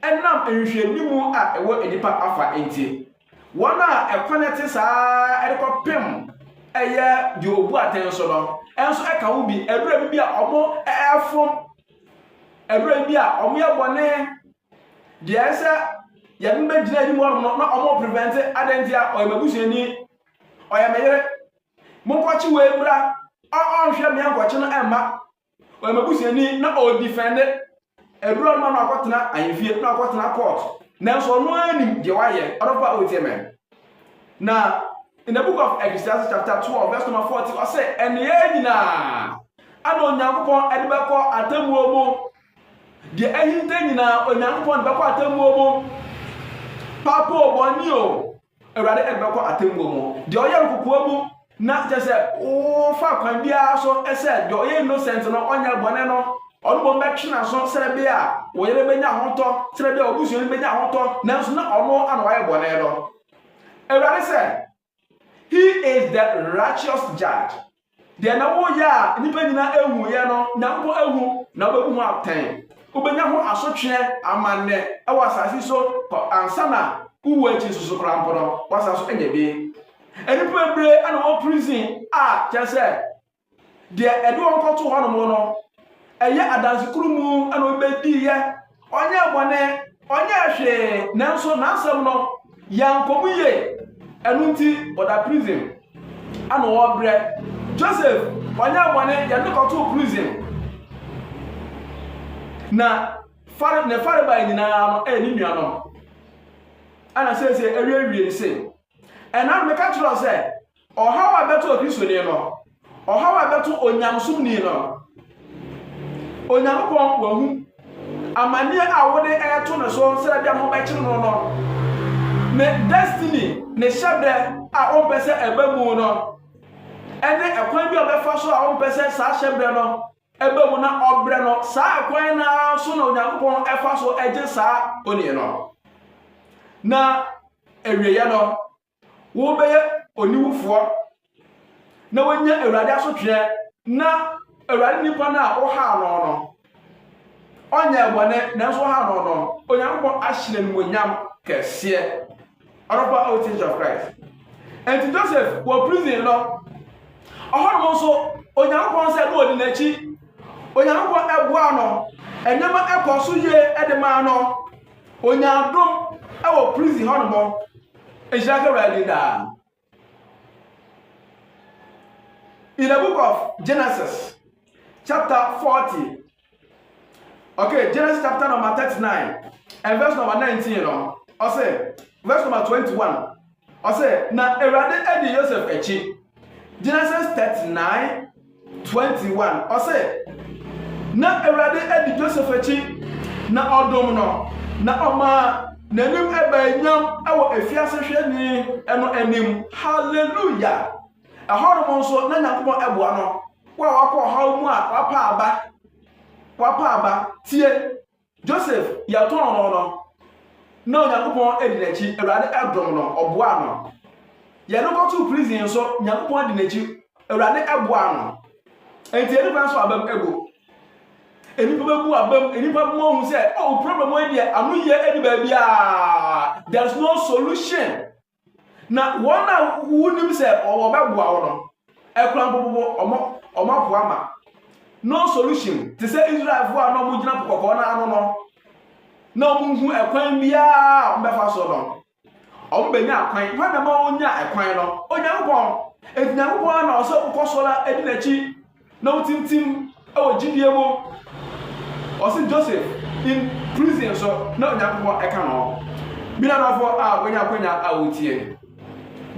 Speaker 1: ɛnam nhwehwɛnimu a ɛwɔ nnipa afa nti. Wɔn a ɛkwan a ɛte saa ara de kɔpem ɛyɛ deɛ obu atɛn so no nso ɛka ho bi. Adura bi bi a wɔn ɛfom, adura bi bi a wɔn yɛ bɔne, deɛ ɛyɛ sɛ yɛn bɛgyina anim hɔ no na wɔn prevent adɛn nti a ɔyɛ m'abusuani, ɔyɛ me yere, Monkɔkye wei mmra. Ɔ ɔnhwɛ me ankɔkye no mma. Ɔyɛ m'abusuani na ɔredifɛnde awuram ma no akɔtena ahemfie na akɔtena court. Nanso ɔno ara nim deɛ wayɛ. Ɔdɔfo a wotie me. Na in the book of Ecclesiastes chapter 12 verse number 40 ɔse nneyɛɛ nyinaa ana Onyankopɔn de bɛkɔ atemmuo mu. Deɛ ahinta nyinaa Onyankopɔn de bɛkɔ atemmuo mu. Papo bɔne o, Awurade de bɛkɔ atemmuo mu. Deɛ ɔyɛ no kokoa mu na kyɛ sɛ wofa kwan biara so sɛ deɛ ɔyɛ innocent no ɔnyɛ bɔne no ɔno mmom bɛtwe n'aso sɛ bɛ a wo yere bɛnya ahotɔ sɛ bɛ a wo busuani bɛnya ahotɔ nanso na ɔno ana wayɛ bɔne no. Awurade sɛ, He is the righteous judge. Deɛ na woyɛ a nnipa nyinaa ehuiɛ no, Nyankopɔn ehu na wobɛbu ho atɛn. Wobɛnya ho asotweɛ amannɛ wɔ asase so kɔ ansa na wowu akyi nso so koraa mpo no, woasan so anya bi. Nnipa bebree na wɔ prison a kyerɛ sɛ deɛ ɛde wɔn kɔto hɔnom no, ɛyɛ adanse koro mu na wɔbɛdiiɛ Ɔnyɛɛ bɔne, ɔnyɛɛ hwee, nanso n'asɛm no yɛankɔ mu yie. Ɛno nti, ɔda prison. Ɛna ɔrebrɛ. Joseph, ɔnyɛɛ bɔne, yɛde no kɔtoo prison. Na fare ne farebae nyinaa no ɛyɛ ne nuanom. Ɛna seesei awiewie no sei. Ɛna meka kyerɛ wo sɛ, Ɔhaw a ɛbɛto Kristoni no, ɔhaw a ɛbɛto onyamesomni no, Onyankopɔn wahu amanneɛ a wode ɛreto no so sɛ ɛbɛn ho bɛkyere no no, ne destiny, ne hyɛbrɛ a ɔmpɛ sɛ ɛba mu no, ɛne ɛkwan bi a ɔbɛfa so a ɔmpɛ sɛ saa hyɛbrɛ no ɛba mu na ɔbrɛ no, saa ɛkwan no ara so na Onyankopɔn ɛfa so ɛgye saa onii no. Na awieɛ no, Wobɛyɛ oniwufoɔ na woanya Awurade asotweɛ na Awurade nipa no a wohaa no no, ɔnyɛɛ bɔne nanso wohaa no no, Onyankopɔn ahye no animuonyam kɛseɛ. Ɔdɔfoɔ a wote Church of Christ. Enti Joseph wɔ prison no, ɔhɔnom nso Onyankopɔn sɛ no ɔdi n'akyi. Onyankopɔn ɛboa no, nneɛma ɛkɔ so yie de maa no. Onyaa dom wɔ prison hɔnom. Nhyira nka Awurade din daa. In the book of Genesis, chapter 40, okay, Genesis chapter number 39, and verse number 19, no, ɔsɛ, verse number 21, ɔsɛ, na Awurade adi Yosef akyi. Genesis 39, twenty one, ɔse, Na Awurade adi Joseph akyi, na ɔdom no, na ɔmaa n'anim ɛbɛɛ nyam wɔ afiase hwɛni no anim. Hallelujah! Ɛhɔnom nso, na Nyankopɔn ɛboa no, wo a wakɔ ɔhaw mu a wapa aba, wapa aba, tie. Joseph, yɛtɔn no no, na Onyankopɔn adi n'akyi. Awurade dom no, ɔboaa no. Yɛde kɔtoo prison nso, Nyankopɔn adi n'akyi. Awurade boaa no. Enti yɛde kwan so abam agu. Nnipa bɛbu abam, nnipa bɛma ɔhu sɛ, oh, problem wei deɛ, ano yie ɛde baabiara. There is no solution. Na wɔn a wonim sɛ wɔbɛboa wo no, ɛkura mpopopo wɔn apoa ma. No solution te sɛ Israelfoɔ a na wɔgyina po kɔkɔɔ no ano no, na wɔhu ɛkwan biara a wɔbɛfa so no. Wɔbɛnya kwan, hwan na ma wɔnya ɛkwan no? Onyankopɔn. Enti Nyankopɔn na ɔsɛ wokɔ so na ɛdi n'akyi. Na wotintim wɔ gyidie mu. Ɔse Joseph in prison so na Onyankopɔn ɛka no ho. Me nuadɔfoɔ a wanya akwanya a wotie.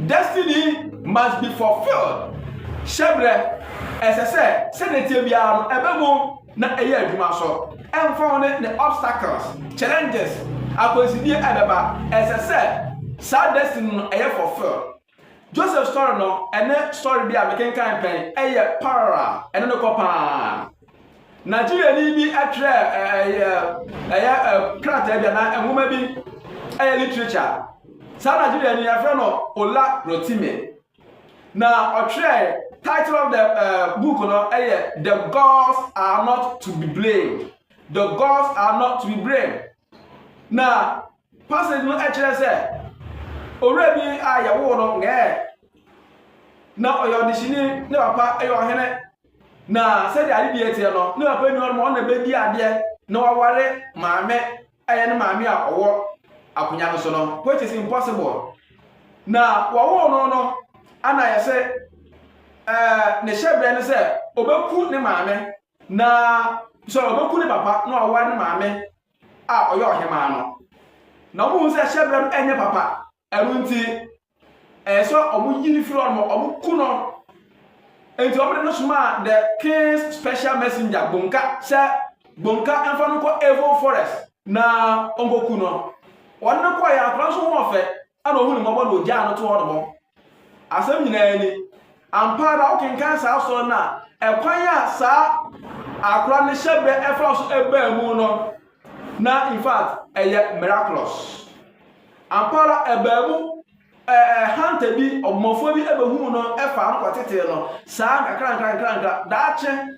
Speaker 1: Destiny must be fulfilled. Hyɛbrɛ, ɛsɛ sɛ sɛdeɛ ɛteɛ biara no ɛbɛ mu na ɛyɛ adwuma so. Ɛmfa ho ne ne obstacles, challenges, akwansidie a ɛbɛba, ɛsɛ sɛ saa destiny no ɛyɛ fulfilled. Joseph sɔre no ne sɔre bi a mekenkan pɛn yɛ parallel ɛne no kɔ paa nigeriani bi twerɛ ɛyɛ ɛyɛ krataa bi anaa nwoma bi ɛyɛ literature saa nigeriani yɛfrɛ no ola rotimi na ɔtwerɛ title of the uh, book no ɛyɛ the gods are not to be blamed the gods are not to be blamed na Passage no kyerɛ sɛ owura bi a yɛwoo no ngɛɛ na ɔyɛ ɔdehyeni ne papa yɛ ɔhene na sɛdeɛ ade deɛ teɛ no ne papa ni hɔ ma ɔna bɛdi adeɛ na waware maame ɛyɛ ne maame a ɔwɔ akonya no so no which is impossible na wɔwoo no no ana yɛ sɛ ɛɛ ne hyɛbrɛ ne sɛ ɔbɛku ne maame na sɛ ɔbɛku ne papa na ɔware ne maame a ɔyɛ ɔhemaa no. Na wɔhu sɛ hyɛbrɛ no ɛnyɛ papa. Ɛno nti, ɛyɛ sɛ wɔn yi no firi hɔ no, wɔn ku no. Nti wɔn de no somaa the king's special messenger Gbonka sɛ Gbonka mfa no nkɔ Evo forest na ɔnkɔku no. Wɔn no kɔɔ yɛ akora nso ho ɔfɛ. Ɛnna ohuu ne mmɔbɔ na ogyaa no too hɔ nom. Asɛm nyinaa ni, Ampa ara wokenkan saa asɔre no a, ɛkwan a saa akora no hyɛbrɛ faa so baa mu no, na in fact ɛyɛ miraculous. Ampa ara ɛbaa mu ɛɛ hunter bi, ɔbɔmmɔfoɔ bi bɛhuu no faa no kɔtetee no saa nkakrankra nkakrankra. Daakye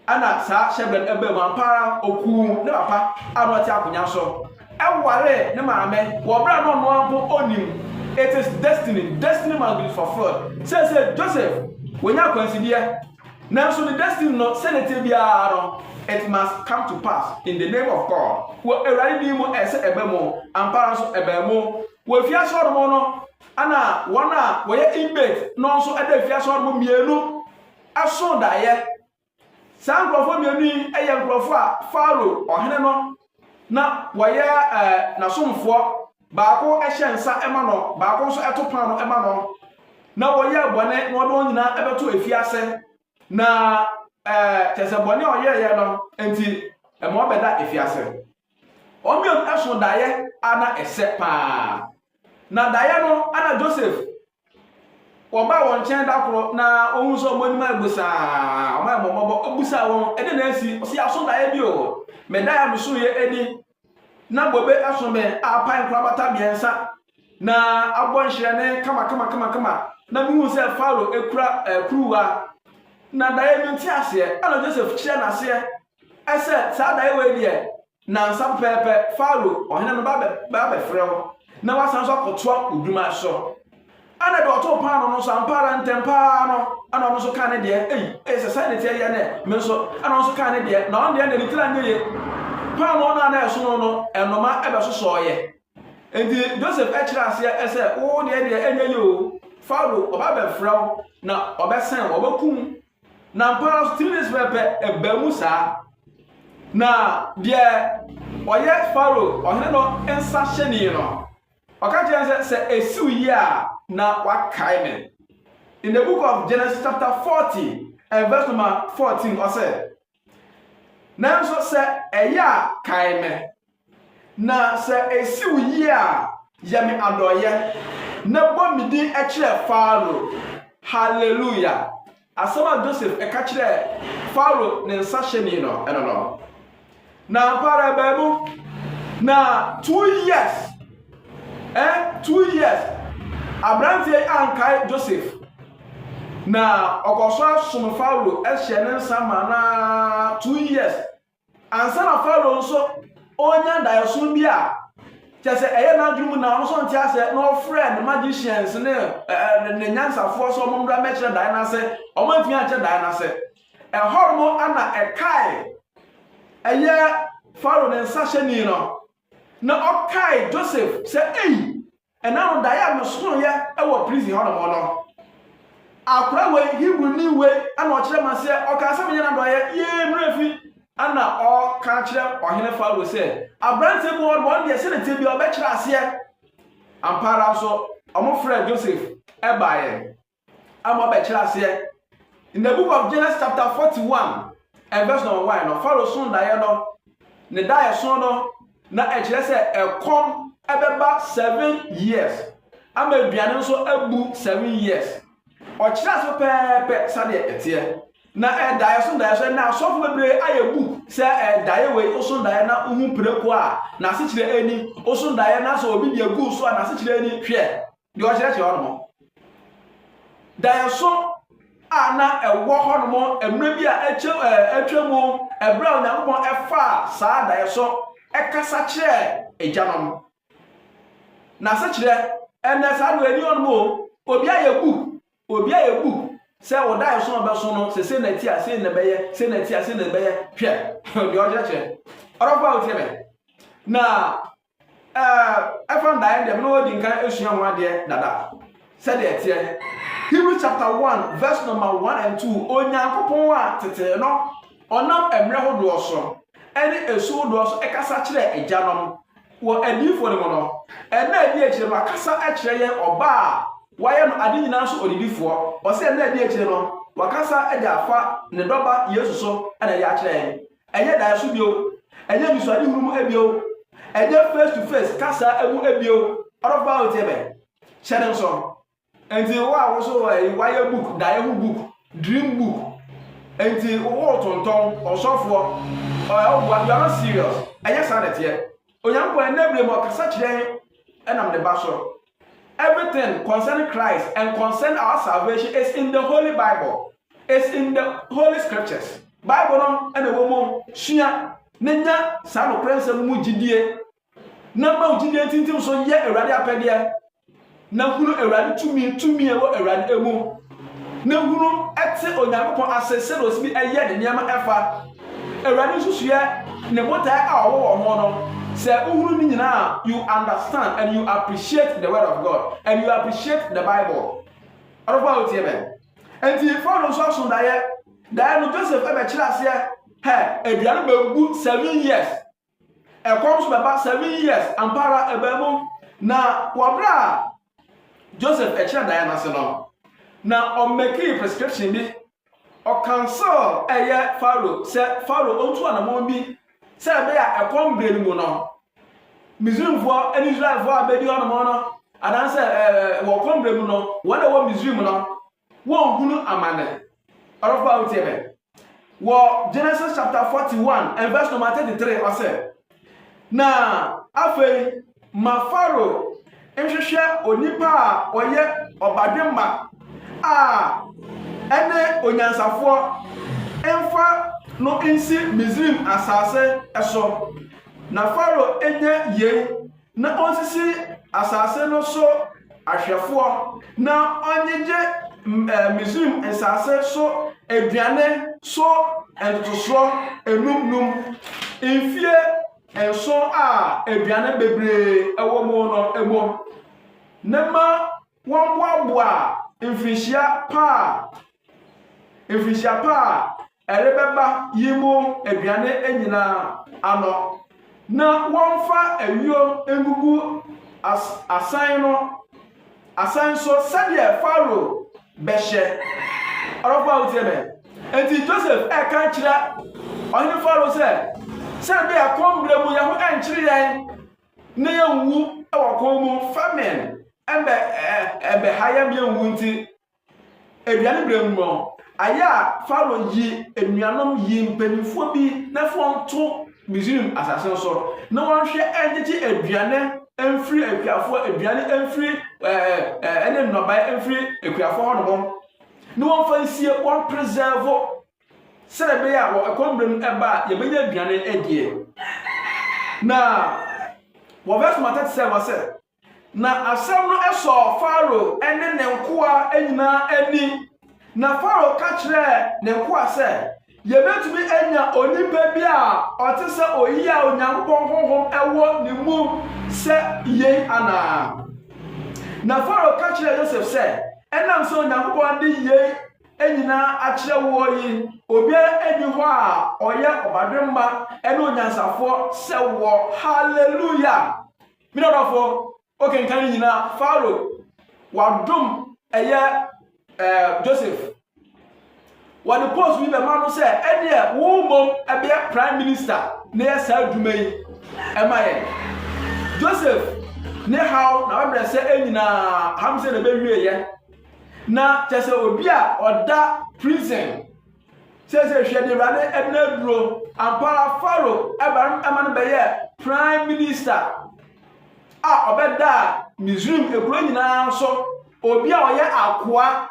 Speaker 1: Ɛna saa hyɛbrɛ no ɛbaa mu ampa ara okuu ne papa a na ɔte akonya so ɛware ne maame wɔ bere a na ɔno ara mpo onim it is destiny destiny must be fulfilled sɛ sɛ Joseph wɔnya akwansideɛ nanso ne destiny no sɛ ne te biara no it must come to pass in the name of God wɔ awurade din mu ɛsɛ ɛbɛ mu ampa ara nso ɛbaa mu wɔ fiase hɔ nom no ɛna wɔn a wɔyɛ inmate no nso ɛda fiase hɔ nom mmienu soo daeɛ. Saa nkurɔfoɔ mmienu yi yɛ nkurɔfoɔ a Farao ɔhene no na wɔyɛ n'asomfoɔ. Baako hyɛ nsa ma no, baako nso to paano ma no, na wɔyɛɛ bɔne na wɔde wɔn nyinaa bɛto afiase. Na kyerɛ sɛ bɔne a ɔyɛeɛ no nti, ɛma ɔbɛda afiase. Wɔn mmienu so daeɛ a na ɛsɛ paa. Na daeɛ no, na Joseph Wɔbaa wɔn nkyɛn da koro na wɔn sɛ wɔn anim ayɛ bosaa. Wɔn ayɛ mmɔbɔ abusaa wɔn ɛde na asi. Ɔsi aso daeɛ bi o. Medaeɛ a meso yɛ ani na bobe ɛso me a apae nkorabata mmiɛnsa na abɔ nhyerɛne kama kama kama kama na mehu sɛ Faro ekura ɛkuruwa na daeɛ no nti aseɛ ɛna Joseph kyerɛ n'aseɛ ɛsɛ saa daeɛ wɔ deɛ Nnansa pɛpɛɛpɛ, Farao ɔhene no ba bɛfrɛ wo na wasan nso akɔtoa wo dwuma so. Ɛna deɛ ɔtoo paano no nso ampa ara ntɛm paa no, ɛna ɔno nso kaa ne deɛ, ei, ei sɛ sɛn ne teɛ yɛ nɛ, me nso, ɛna ɔno nso kaa ne deɛ, na ɔno deɛ na ne tiri anyɛ yie. Paano no a na ɛsono no, ɛnoma ɛbɛsosɔɔyɛ. Enti Joseph ɛkyerɛ aseɛ sɛ, wo deɛ deɛ ɛnyɛ yie o, Farao ɔba bɛfrɛ wo na ɔbɛsɛn wo, ɔbɛkum Na ampa ara nso, tumi no nso pɛpɛ ɛbaa mu saa. Na deɛ ɔyɛ Faro ɔhene no nsa hyɛni no, ɔka kyerɛ no sɛ, sɛ ɛsiw yie a, na wakae me. In the book of Genesis chapter 40 and verse number 14, ɔsɛ, Nanso sɛ ɛyɛ a, kae me. Na sɛ esi wo yie a, yɛ me adɔeɛ, na bɔ me din kyerɛ Farao. Hallelujah! Asɛm a Joseph ka kyerɛɛ Farao ne nsahyɛni no, ɛno no. Na ampa ara ɛbaa mu. Na two years, eh, two years, aberanteɛ yi ankae Joseph. Na ɔkɔ so asom Farao, hyɛ ne nsa ma no ara two years. Ansa na Farao nso ɔrenya daeɛso bi a kyɛ sɛ ɛyɛ n'adwene mu na ɔno nso ɔnte aseɛ na ɔfrɛɛ ne magicians ne ɛɛ ne nyansafoɔ sɛ wɔn mmra mmɛkyerɛ daeɛ no ase, wɔn antumi ankyerɛ daeɛ no ase. Ɛhɔ nom na ɛkae ɛyɛ Farao ne nsahyɛni no Na ɔkae Joseph sɛ, Ei, ɛna no daeɛ a mesonoeɛ wɔ prison hɔ nom no, akora wei, Hebrini wei, na ɔkyerɛɛ me aseɛ, ɔkaa sɛ menyɛ n'adɔeɛ, yee me werɛ fi. Ɛna ɔka kyerɛ ɔhene Farao sɛ, Aberanteɛ bi wɔ hɔ nom, ɔno deɛ, sɛdeɛ ɛteɛ biara ɔbɛkyerɛ aseɛ. Ampa ara nso, wɔfrɛɛ Joseph baeɛ. ama ɔbɛkyerɛ aseɛ. In the book of Genesis chapter 41 and verse number 1 no, Pharaoh so daeɛ no, ne daeɛso no, na ɛkyerɛ sɛ ɛkɔm ɛbɛba seven years, ama aduane nso abu seven years. Ɔkyerɛ ase pɛɛpɛ sɛdeɛ ɛteɛ. Na ɛdaeɛ so daeɛso na asɔfo bebree ayɛ bu sɛ ɛdaeɛ wei oso daeɛ na wohu preko a n'asekyerɛ ani, oso daeɛ na sɛ obi deɛ gu so a n'asekyerɛ ani hwɛ. deɛ ɔkyerɛkyerɛ hɔ nom. Daeɛso a na ɛwɔ hɔ nom mmerɛ bi a atwa mu ɛberɛ a Onyankopɔn ɛfaa saa daeɛso ɛkasa kyerɛɛ agya nom. N'asekyerɛ ɛnɛ saa deɛ ɛni hɔ nom o, obi ayɛ book, obi ayɛ book sɛ wo daeɛso a ɔbɛso no sɛ sɛ na ti a sɛ na ɛbɛyɛ, sɛ na ti a sɛ na ɛbɛyɛ, hwɛ deɛ ɔkyerɛkyerɛ. Ɔdɔfo a wotie me, na Ɛfa ndaeɛ deɛ, me na wɔdi nkan asua ho adeɛ dada sɛdeɛ ɛteɛ. Hebrew chapter 1 verse number 1 and 2 Onyankopɔn a tetee no ɔnam mmerɛ hodoɔ so ɛne ɛsu hodoɔ so ɛkasa kyerɛ agyanom wɔ adiyifoɔ no mu no ɛna ɛdi akyire no wakasa kyerɛ yɛn ɔba a wayɛ no ade nyinaa so ɔdidifoɔ ɔsɛ ɛna ɛdi akyire no wakasa de afa ne dɔba Yesu so ɛna ɛde akyerɛ yɛn Ɛnyɛ daeɛso bio, ɛnyɛ anisoadehunu mu bio, ɛnyɛ face to face kasa mu bio. Ɔdɔfo a wotie me, hyɛ ne nso. Nti wo a woso wayɛ book, daeɛ ho book, dream book, nti wotontɔn ɔsɔfoɔ, ɔwoboa, you are not serious. Ɛnyɛ saa na ɛteɛ. Onyankopɔn ɛnɛ berɛ mu ɔkasa kyerɛ ɛnam ne ba so. Everything concerning Christ and concern our salvation is in the Holy Bible. It's in the Holy Scriptures. Bible no na ɛwɔ mu sua ne nya saa nokorɛ nsɛm mu gyidie na ma wo gyidie ntintim so yɛ Awurade apɛdeɛ na hunu Awurade tumi tumi ɛwɔ Awurade mu Ne hunu te Onyankopɔn ase sɛnea ɔtumi yɛ ne nneɛma ɛfa Awurade nsusuiɛ ne botaeɛ a ɔwɔ wɔ ho no. Sɛ wohunu ne nyinaa a, you understand and you appreciate the word of God and you appreciate the Bible. Ɔdɔfo a wotie me. Enti Farao nso aso daeɛ. Daeɛ no Joseph ɛbɛkyerɛ aseɛ hɛ aduane bɛgu seven years. Ɛkɔm so bɛba seven years ampa ara ɛbaa mu na wɔ berɛ a Joseph ɛkyerɛ daeɛ no ase no na ɔmmɛkii prescription bi ɔkansel ɛyɛ Faro sɛ Faro ɔntu anamɔn bi sɛ ɛbɛyɛ a ɛkɔm berɛ no mu no Misrimfoɔ ne Israelfoɔ a bɛdi hɔ nomɔ no anaasɛ wɔ kɔm berɛ mu no wɔn a ɛwɔ Misrim no Wɔnhunu amane. Ɔdɔfo a wotie me. Wɔ Genesis chapter 41 and verse number 33 ɔsɛ, Na afei ma Farao nhwehwɛ onipa a ɔyɛ ɔbadwemma a ɛne onyansafoɔ mfa no nsi Misraim asase so, na Farao nyɛ yei na onsisi asase no so ahwɛfoɔ, na ɔnyegye Misraim nsase so aduane so ntotosoɔ enum num mfie nson a aduane bebree wɔ mu no mu, na ma wɔmmoaboa mfirinhyia pa a mfirinhyia pa a ɛrebɛba yi mu aduane nyinaa ano, na wɔmfa ayuo ngugu as asan no asan so sɛdeɛ Farao bɛhyɛ. Ɔdɔfo a wotie me. Enti Joseph ɛka kyerɛ ɔhene Farao sɛ, sɛ ɛbɛyɛ akɔm berɛ mu yɛn ho ɛnkyere yɛn na yɛnwu wɔ kɔn mu famine ɛbɛ ɛbɛha yɛn yɛnwu nti Aduane berɛ mu no, ayɛ a Farao yi anuanom yi mpanimfoɔ bi na fa nto Misraim asase no so na wɔnhwɛ nkyekye aduane mfiri akuafoɔ aduane mfiri ɛne nnɔbae mfiri akuafoɔ hɔ nom na wɔmfa nsie wɔn preserve sɛdeɛ ɛbɛyɛ a wɔ ɛkɔm berɛ no ɛba a yɛbɛnya aduane adie na wɔvɛs mata te sɛ wɔ sɛ Na asɛm no sɔɔ Farao ne ne nkoa nyinaa ani. Na Farao ka kyerɛɛ ne nkoa sɛ, Yebetumi anya onipa bi a ɔte sɛ oyi a Onyankopɔn honhom wɔ ne mu sɛ yɛn anaa? Na Farao ka kyerɛɛ Yosef sɛ, Ɛnam sɛ Onyankopɔn ade yei nyinaa akyerɛ woɔ yi, obiara nni hɔ a ɔyɛ ɔbadwemma ne onyansafoɔ sɛ woɔ. Haleluya! Me dɔdɔfo, wokenkan ne nyinaa. Faro, wadom ɛyɛ ɛɛ Joseph. Wɔde post bi bɛma no sɛ ɛdeɛ wo mmom ɛbɛyɛ prime minister na yɛ saa adwuma yi ɛma yɛn. Joseph ne haw na wabrɛ sɛ ɛnyinaa ham sɛ na ɛbɛwieɛ. Na kyɛ sɛ obi a ɔda prison Seesei hwɛ deɛ Awurade de no aduro. Ampa ara Farao ɛba no ɛma no bɛyɛɛ prime minister a ɔbɛdaa Misraim ekuro nyinaa so. Obi a ɔyɛ akoa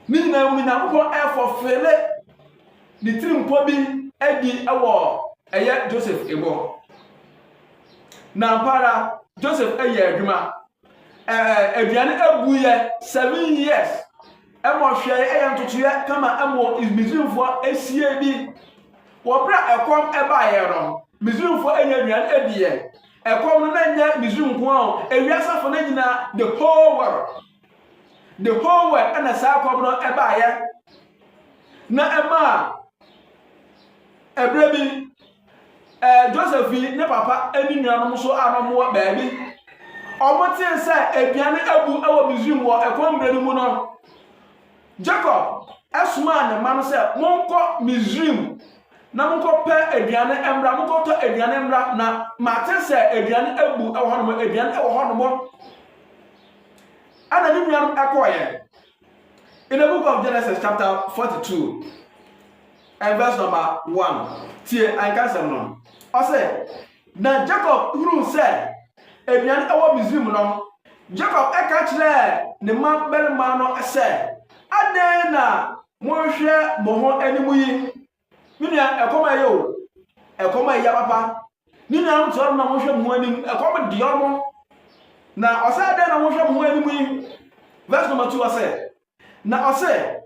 Speaker 1: ne nyinaa mu no Nyankopɔn ɛfɔfele ne tirimpɔ bi adi ɛwɔ ɛyɛ Joseph emu. Na ampa ara Joseph ɛyɛ adwuma. Ɛɛ aduane abu yɛ seven years. Ɛma ɔhwɛe ɛyɛ ntotoeɛ kama ɛmo Misrimfoɔ ɛsie bi. Wɔ berɛ a ɛkɔm ɛbaeɛ no, Misrimfoɔ ɛnya aduane ɛdiɛ. Ɛkɔm no na nyɛ Misrim nko ara o, ewiase afɔ no nyinaa, the whole world. The whole world ɛna saa ɛkɔm no ɛbaeɛ. Na ɛmaa ɛberɛ bi Joseph fi ne papa ne nuanom so a na wɔwɔ baabi. Wɔtee sɛ aduan abu wɔ Misraim wɔ ɛkɔm berɛ no mu no, Jacob somaa ne mma no sɛ, Monkɔ Misraim na monkɔpɛ aduan mmra, monkɔtɔ aduan mmra, na mate sɛ aduan abu wɔ hɔnom, aduan wɔ hɔnom. Ɛna ne nuanom kɔɔeɛ. In the book of Genesis chapter 42 and verse number 1, tie ankasɛm no. Ɔsɛ, na Jacob hunu sɛ aduane ɛwɔ Misrim no, Jacob ɛka kyerɛɛ ne mma barima no sɛ, adɛn na monhwɛ mo ho anim yi? Me nua, ɛkɔm a ɛyɛ o. Ɛkɔm a ɛyɛ papa. Ne nuanom te hɔ na wɔhwɛ mo ho anim. Ɛkɔm de wɔn. Na ɔsɛ adɛn na wɔhwɛ mo ho anim yi? Verse number two ɔsɛ. Na ɔsɛ,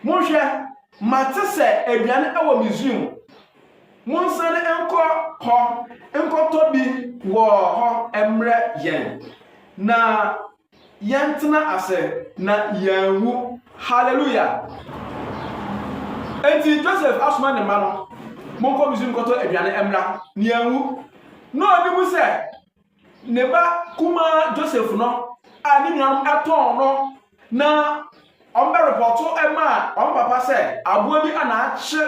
Speaker 1: monhwɛ, mate sɛ aduane wɔ Misraim. Monsane nkɔ hɔ nkɔtɔ bi wɔ hɔ mmerɛ yɛn. Na Yɛntena ase na yɛanwu. Hallelujah! Enti Joseph asoma ne mma no, Monkɔ Misraim nkɔtɔ aduane mmra, na yɛanwu. Na ɔnim sɛ ne ba kumaa Joseph no a ne nuanom ɛtɔn no na wɔbɛrepɔto maa wɔn papa sɛ aboa bi a n'akye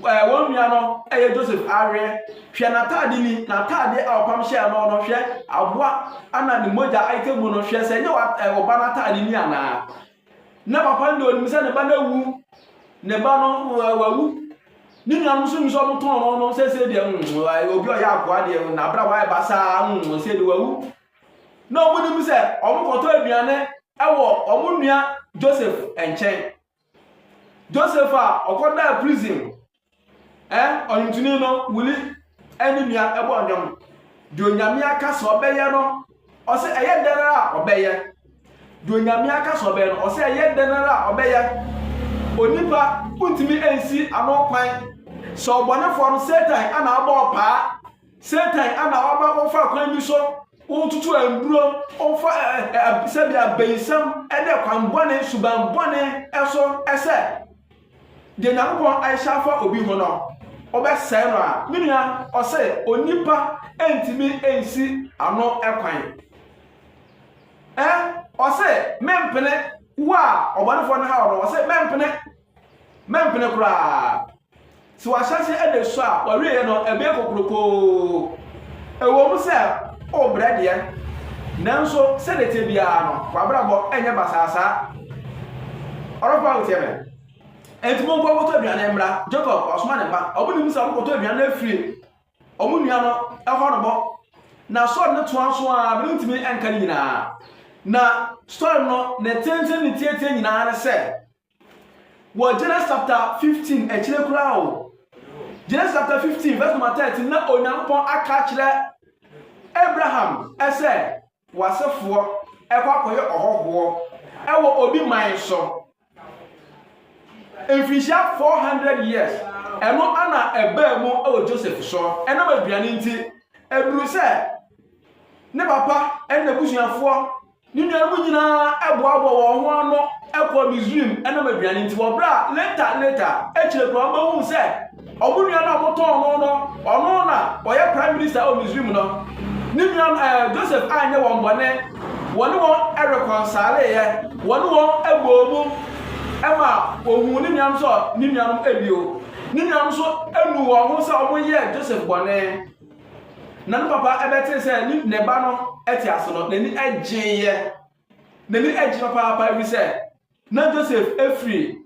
Speaker 1: wɔn nua no yɛ Joseph awerɛ. Hwɛ n'ataade ni, n'ataade a ɔpam hyɛɛ no no, hwɛ aboa ana ne mogya ayika mu no, hwɛ sɛ ɛnyɛ ɔba no ataade ni anaa. Na papa no deɛ ɔnim sɛ ne ba no awu, ne ba no wawu. Ne nuanom nso nim sɛ ɔmotɔn no no sɛsɛ deɛ mm, obi ɔyɛ akoa deɛ n'abra wayɛ basaa mm, sɛ de wawu. Na ɔmonim sɛ ɔmokɔtɔ aduane wɔ ɔmo nua Joseph nkyɛn. Joseph a ɔkɔdaa prison ɛ ɔnwomtoni no wuli ɛne nua ɛbɔ ɔnwom deɛ onyame aka sɛ ɔbɛyɛ no ɔsɛ ɛyɛ dɛn ara a ɔbɛyɛ deɛ onyame aka sɛ ɔbɛyɛ no ɔsɛ ɛyɛ dɛn ara a ɔbɛyɛ onipa wontumi nsi ano kwan sɛ ɔbɔnefoɔ no satan ana abɔ ɔpaa Satan ama wɔaba wɔfa kwan bi so wɔtutu aduro wɔfa sɛbi abayisɛm ɛdɛ kwan bɔne suban bɔne ɛso ɛsɛ deɛ nyankopɔn ahyɛ afa obi ho no wɔbɛsɛe no a me nua ɔsɛ onipa ɛntumi ɛnsi ano ɛkwan ɛ ɔsɛ mempene wo a ɔbɔnefoɔ no ha ɔno ɔsɛ mempene mempene koraa Sɛ w'ahyɛse da su a, w'awieeɛ no, ɛbɛyɛ kokurokoo. Ɛwom sɛ worebrɛ deɛ, nanso sɛdeɛ ɛteɛ biara no, w'abrabɔ renyɛ basaa saa. Ɔdɔfoɔ a wotie me, enti monkɔ nkɔtɔ aduane mmra. Jacob, ɔsoma ne mma. Wɔnim sɛ wɔkɔtɔ aduane no afiri wɔn nua no hɔ no bɔ. Na sɔre no toa so ara, merentumi nka ne nyinaa. Na sɔre no, ne tenten ne ne tiatia nyinaa ne sɛ, Wɔ Genesis chapter fifteen akyire koraa o, Genesis chapter fifteen verse number thirteen na Onyankopɔn aka akyerɛ Abraham sɛ w'asefoɔ ɛkɔ akɔyɛ ɔhɔhoɔ ɛwɔ obi man so mfirihyia four hundred years ɛno ana ɛbaa mu ɛwɔ Joseph so ɛnam aduane nti ɛduru sɛ ne papa ɛne n'abusuafoɔ. Ne nuanom nyinaa boaboa wɔn ho ano kɔɔ Misraim nom aduane nti, wɔ berɛ a later later akyire koraa wɔbɛhuu sɛ wɔn nua no a wɔtɔn no no, ɔno na ɔyɛ prime minister wɔ Misraim no. Ne nua no, eh, Joseph anyɛ wɔn bɔne, wɔne wɔn rekɔnsaleeɛ, wɔne wɔn bɔɔ mu ma wɔhuu ne nuanom sɛ ne nuanom bio. Ne nuanom nso nu wɔn ho sɛ wɔyɛɛ Joseph bɔne. Na ne papa bɛtee sɛ ne ne ba no te ase no, n'ani gyeeɛ. N'ani gye papaapa ɛfiri sɛ na Joseph firi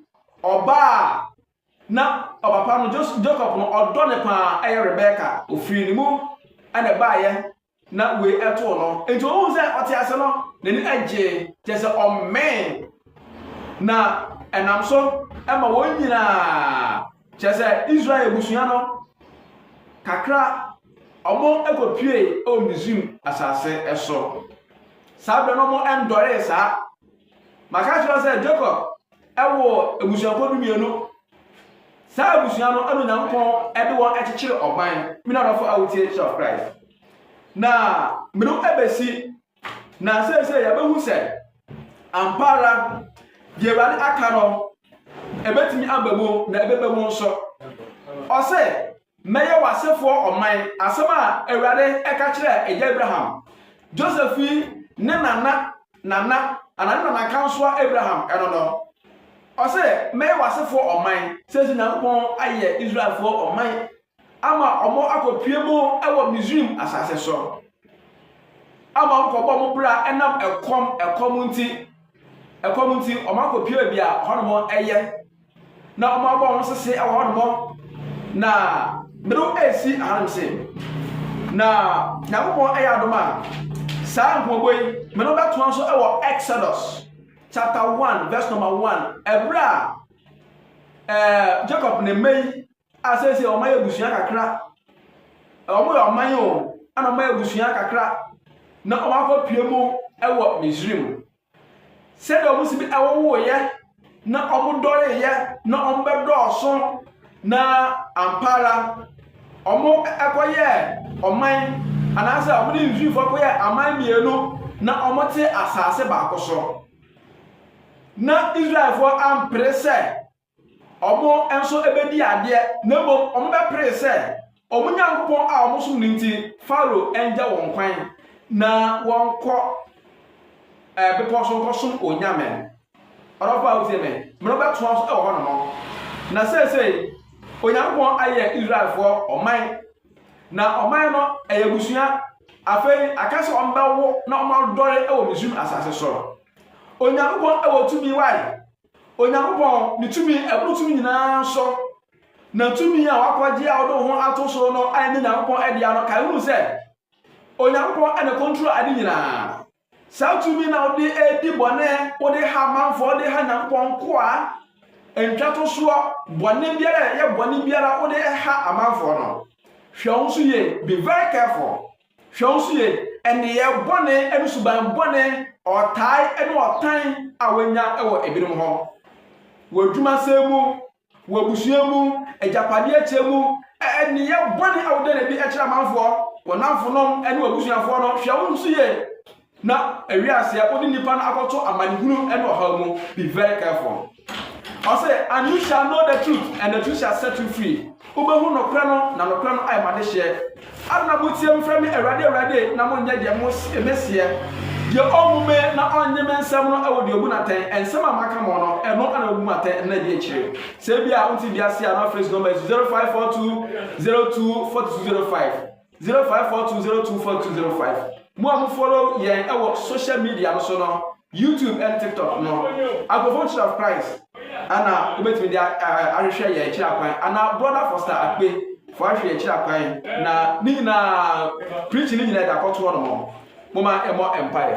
Speaker 1: ɔba a na ɔpapa no Jacob no ɔdɔ ne paa ɛyɛ Rebeka ofiri ne mu ɛna baayɛ na wei ɛtoo no nti ohun sɛ ɔte ase no n'ani gyee kyɛ sɛ ɔmmɛn na ɛnam so ɛma wɔn nyinaa. Kyerɛ sɛ Israel abusua no kakra wɔkɔpuee wɔ Misraim asase so. Saa berɛ no wɔndɔree saa. Maka kyerɛ sɛ Jacob wɔ abusuakuo du mmienu. Saa abusua no ɛna Onyankopɔn de wɔn kyekyere ɔman. Me nanɔfo a wotie Church of Christ. Na mene wo bɛsi Na seesei yɛbɛhu sɛ ampa ara deɛ Awurade aka no, ɛbɛtumi aba mu na ɛbɛba mu nso. Ɔse, mɛyɛ w'asefoɔ ɔman, asɛm a Awurade ɛka kyerɛ agya Abraham. Joseph yi ne nana, nana, ana ne nana kansoa Abraham ɛno no. Ɔse, mɛyɛ w'asefoɔ ɔman. Seesei Nyankopɔn ayɛ Israelfoɔ ɔman. ama wɔakɔpue mu wɔ Misraim asase so, ama wɔkɔbɔ wɔn bra nam ɛkɔm ɛkɔm nti. Ɛkɔm nti, wɔakɔpue baabi a hɔnom yɛ, na wɔabɔ wɔn sese wɔ hɔnom, na mmerɛw resi hanom se. Na Nyankopɔn yɛ adom a, saa nkɔmmɔbɔ yi, me no bɛtoa so wɔ Exodus chapter one verse number one ɛberɛ a ɛɛ Jacob ne mma yi a seesei wɔn ayɛ abusua kakra. Wɔn yɛ ɔman o, ɛna wɔn ayɛ abusua kakra na wɔn akɔ pie mu wɔ Misrim. Sɛdeɛ wɔn si bi ɛwowoeɛ na wɔn dɔreeɛ na wɔn bɛdɔɔso na ampa ara wɔn ɛkɔyɛ ɔman anaasɛ wɔn ne Misrimfoɔ kɔyɛ aman mmienu na wɔn te asaase baako so. Na Israelfoɔ ampere sɛ Wɔn nso bɛdii adeɛ, na mmom wɔbɛperee sɛ wɔn Nyankopɔn a wɔsom no nti, Farao ngya wɔn kwan na wɔnkɔ eh, bepɔ so nkɔsom onyame. Ɔdɔfo a wotie me, mene wobɛtoa so wɔ hɔnom. Na seesei, Onyankopɔn ayɛ Israelfoɔ ɔman, na ɔman no ɛyɛ abusua. Afei, aka sɛ wɔbɛwo na wɔadɔre wɔ Misraim asase so. Onyankopɔn wɔ tumi wae. Onyankopɔn, ne tumi a ɛboro tumi nyinaa so, na tumi a wakɔgye a ɔde ho ato so no a ɛnyɛ Onyankopɔn adea no, kae hu sɛ Onyankopɔn ɛna kɔntrol ade nyinaa. Saa tumi na wode edi bɔne, wode ha amanfoɔ, wode ha Nyankopɔn nkoa, ntwatosoɔ, bɔne biara, ɛyɛ bɔne biara, wode ha amanfoɔ no. Hwɛ wo nso yie, be very careful. Hwɛ nso yie nneyɛɛ bɔne ne suban bɔne, ɔtaa ne ɔtan a wɔanya wɔ ebinom hɔ, wɔ adwumasɛm mu, wɔ abusua mu, agyapadeɛ kyɛ mu, nneyɛɛ bɔne a wodane bi kyerɛ amanfoɔ, wɔn nnamfonom ne wɔn abusuafoɔ no, hwɛ wo nso yie Na ewie aseɛ wode nipa no akɔto amanehunu ne ɔhaw mu be very careful ɔse and you shall know the truth and the truth shall set you free wobɛhu nokorɛ no na nokorɛ no ayɛ madehyeɛ adena motie me frɛ me awurade awurade na monyɛ deɛ meseɛ deɛ ɔnhu me na ɔnnye me nsɛm no ɛwɔ deɛ ɔbu natɛn ɛnsɛm a maka mo no ɛno ana ɔbu matɛn ɛna ɛdi akyire sɛ bia wonte bi ase a na frɛ si nɔmba yi so 0542 02 4205 0542024205 Mo a mo follow yɛn wɔ social media no so no, YouTube and TikTok no, Agofo Church of Christ, ana wobɛtumi de ahwehwɛ yɛn akyiri akwan, ana Brother Foster Akpe fo ahwɛ akyiri akwan, na ne nyinaa, preaching ne nyinaa ɛde akɔto hɔ no mo, moma ɛmɔ mpaeɛ.